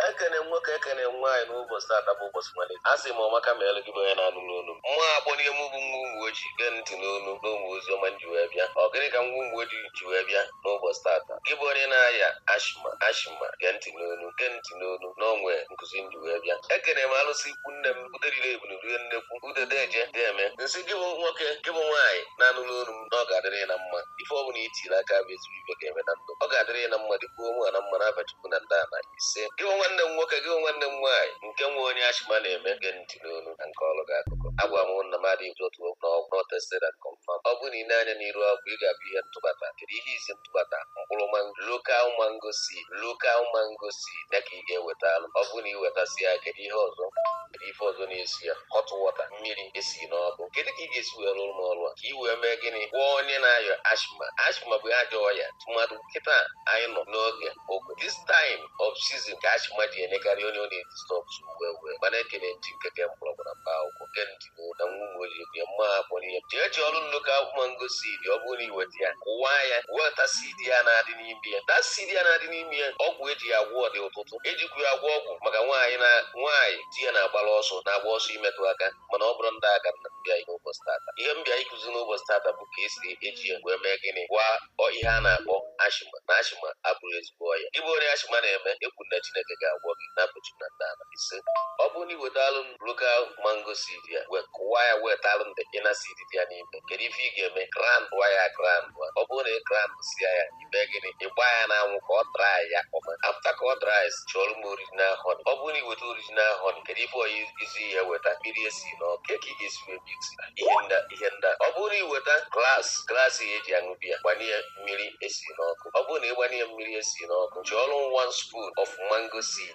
ekene nwoke ekene nwaanyị n'ụbọchị tata bụ ụbọchị malite a sị m ọmaka ma elu gị bụ onye na-anụ n'onu m mụ akpọ n'ihe m bụ nwa ụmụ ojii gee ntị n'onu nụrụ ozi ọma m ji wee bịa ọ gịnị ka nwa ụmụ ojii ji wee bịa n'ụbọchị tata gị bụ onye na-aya ashima ashima gee ntị n'onu gee ntị n'onu nwee nkụzi m ji wee bịa ekene m alụsị ikwu nne m uderire ebunu rie nnekwu udedeje dị eme m sị gị bụ nwoke gị bụ nwaanyị na-anụrụ onu m na ọ ga-adịrị ya na mma ife ọ bụla itiri aka bụ ezigbo ife ga-eme na ndụ ọ ga-adịrị ya na mma dịkwuo onwe ha na mma n'afa chukwu na ndị ana ise gị bụ nwanne m nwoke gị bụ nwanne m nwaanyị nke nwe onye ashima na-eme gee ntị n'onu ka m kọọrọ gị akụkọ agwa m na m adịghị otu okwu na ọgwụ na ọ tested and confirmed ọ bụrụ na i lee anya n'iru ọgwụ ị ga-afụ ihe m tụbata kedu ihe izi m tụbata mkpụrụ mango lokal mango seed lokal mango seed ya ka ị ga-ewetalụ ọ bụrụ na ị wetasị ya kedu ihe ọzọ kedu ife ọzọ na-esi ya hot water mmiri esi n'ọkụ kedu ka ị ga-esi wee rụrụ m ọrụ a ka ị wee mee gịnị gwọọ onye na-aya ashma ashma bụ ajọ ọya tụmadụ kịta anyị nọ n'oge ogo this time of season ka ashma ji enyekarị onye ọ na-edistọb wee wee mana ekene m chineke ke mkpọrọgwụ na mkpa akwụkwọ gee ntị ụda nwa ụmụ ojii bịa mma akọrọ ihe jee ji ọrụ lokal mango seed ọ bụrụ na i weta ya kụwa ya weta seed ya na-adị n'ime ya that seed ya na-adị n'ime ya ọgwụ eji ya agwọ dị ọtụtụ ejikwu ya agwọ ọgwụ maka nwaanyị na nwaanyị di ya na-agbara ọsọ na-agba ọsọ imetụ aka mana ọ bụrọ ndị a ka m bịa n'ụbọchị tata ihe m bịa ịkụzi n'ụbọchị tata bụ ka esi eji ya wee mee gịnị gwọọ ihe a na-akpọ ashima na ashima abụrọ ezigbo ọya gị bụ onye ashima na-eme ekwu m na chineke ga-agwọ gị n'afa chi na ndị ala ise ọ bụrụ na i wetalụ m lokal mango seed ya wee kụwa ya wetalụ m the inner seed dị ya n'ime kedu ife ị ga-eme grand wa ya grand wa ọ bụrụ na ị grand sia ya i mee gịnị ị gbaa ya n'anwụ ka ọ dry ya ọma afta ka ọ dry chụọrọ m original honey ọ bụrụ na i weta original honey kedu ife ọya izi ya weta mmiri esi n'ọkụ ka ị ga-esi wee mix ihe nda ihe nda ọ bụrụ na i weta glass glass a eji aṅụ biya gbanye ya mmiri esi n'ọkụ ọ bụrụ na ị gbanye ya mmiri esi n'ọkụ chụọrọ m one spoon of mango seed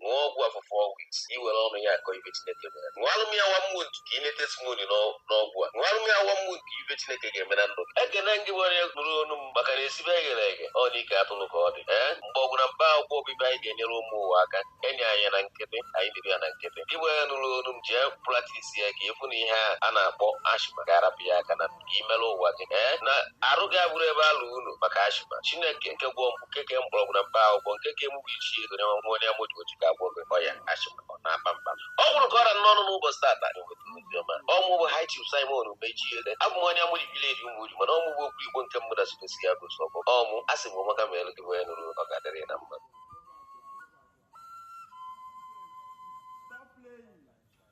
ṅụọ ọgwụ a for four weeks ka i were ọnụ ya akọ ife chineke mere ṅụọrụ m ya one month ka ị nete testimony n'ọ- n'ọgwụ a ṅụọrụ m ya one month ka ife chineke ga-eme na ndụ gị. ekene m gị bụ onye nụrụ onu m maka na esibe eghere eghe ọ na ike atụrụ ka ọ dị ee mkpọrọgwụ na mkpa akwụkwọ ọ bụ ife anyị ga-enyere ụmụ ụwa aka enye anyị ya na nkịtị anyị nyebe ya na nkịtị gị bụ onye nụrụ onu m jee practice ya ka ị fụ na ihe a a na-akpọ ashma ga-arapụ ya aka na imere ụwa gị ee na arụ gị abụrụ ebe alụ unu maka asthma chineke nke gwọ mkpụ nke ke mkpọrọgwụ na mkpa akwụkwọ nke ke mụ bụ ichi ego na nwa onye amoji oji ga-agwọ gị ọya asthma ọ na-akpa mkpa ọ bụrụ ka ọ ra n'ọnụ n'ụbọchị tata eweta ozi ọma ọ mụ bụ high chief simon mechi ego abụ m onye amoji village umuoji mana ọ mụ bụ okwu igbo nke mbụ na south east ya bụ sọ bụ ọmụ a sị m ụmụaka ma elu gị bụ onye nụrụ ọ ga-adịrị na mma